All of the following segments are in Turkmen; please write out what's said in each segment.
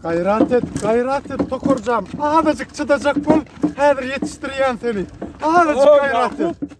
Gaýrat et, gaýrat et, tokarjam. Azajyk çydajak bol, häzir ýetişdirýän seni. Azajyk gaýrat et.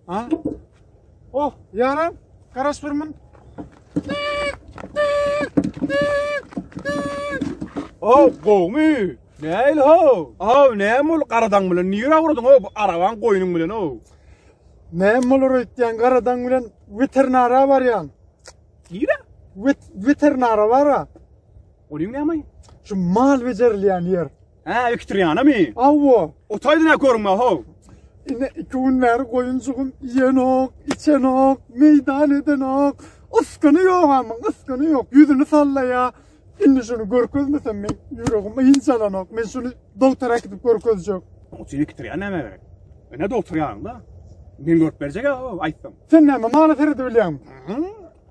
Ha? Oh, ýaran, garaş bir mün. Oh, gowmy? Näil ho? Oh, näme ol garadan bilen? Nire awradyň ho? Bu araban goýnuň bilen ho. Näme olur öýtýän garadan bilen weterinara barýan. Nire? Wet weterinara bara. Onuň näme? Şu mal becerilýän ýer. Hä, ektirýänmi? Awwa. Otaýdyna görme, ho. Ine iki gün bäri goýunjygym iýenok, içenok, meýdan edenok. Iskyny ýok amyň, iskyny ýok. Ýüzüni sallaýa. Indi şuny görkezmesem men ýüregim ýyňjalanok. Men şuny doktora äkidip görkezjek. Otyny ektirýän näme gerek? Ene doktor ýanyňda. Men görüp berjek-ä, aýtsam. Sen näme mala seredip bilýäňmi?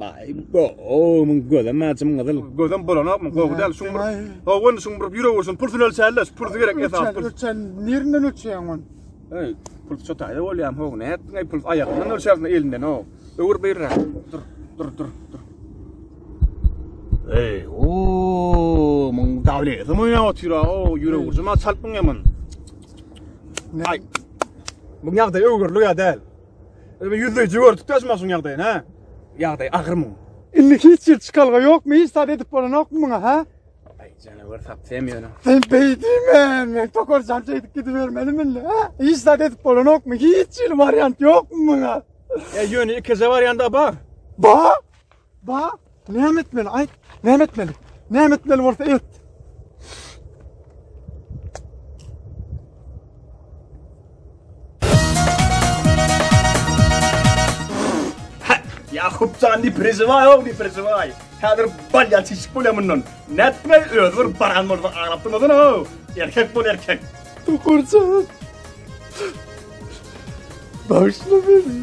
Baý go omuň göze mäjim gyzyl. Gözüm bulanokmy? Gowy däl şuň bir. Owen şuň bir ýürek ursun. Pulsy ölçällä, şu pulsy gerek esas pul. Ölçen nirden ölçeýäň on? Ey, pul çotaýda bolýam ho, ne etdiň ey pul aýagyndan ölçäsin elinden o. Öwür beýrä. Dur, dur, dur, dur. Ey, o, muň dawleti moýna otyr o, ýürek ursun ma çalpyň ýaman. Ay. Muň ýagdaýy öwürli ýa däl. Öbe yüzde gördük de maşyn ýagdaýyny ha. Ýagdaý agyr mı? Indi hiç ýer çykalga ýokmy? Hiç zat edip bolanokmy muňa ha? Ay canavar sap sen ýöne. Sen beýdimen, men tokor jan çeýdip gidibermelimi indi ha? Hiç zat edip bolanokmy? Hiç ýyl waryant ýokmy muňa? Ya ýöne ikije waryanda bar. Ba? Ba, näme etmeli? Aýt, näme etmeli? Näme etmeli bolsa et. Yakupcan ne prezivay oğlum ne prezivay. Hazır bal ya çeşik bol ya bundan. Ne etme öz bir baran bol bir ağlaptın odun o. Erkek bol erkek. Tukurcan. Bağışla beni.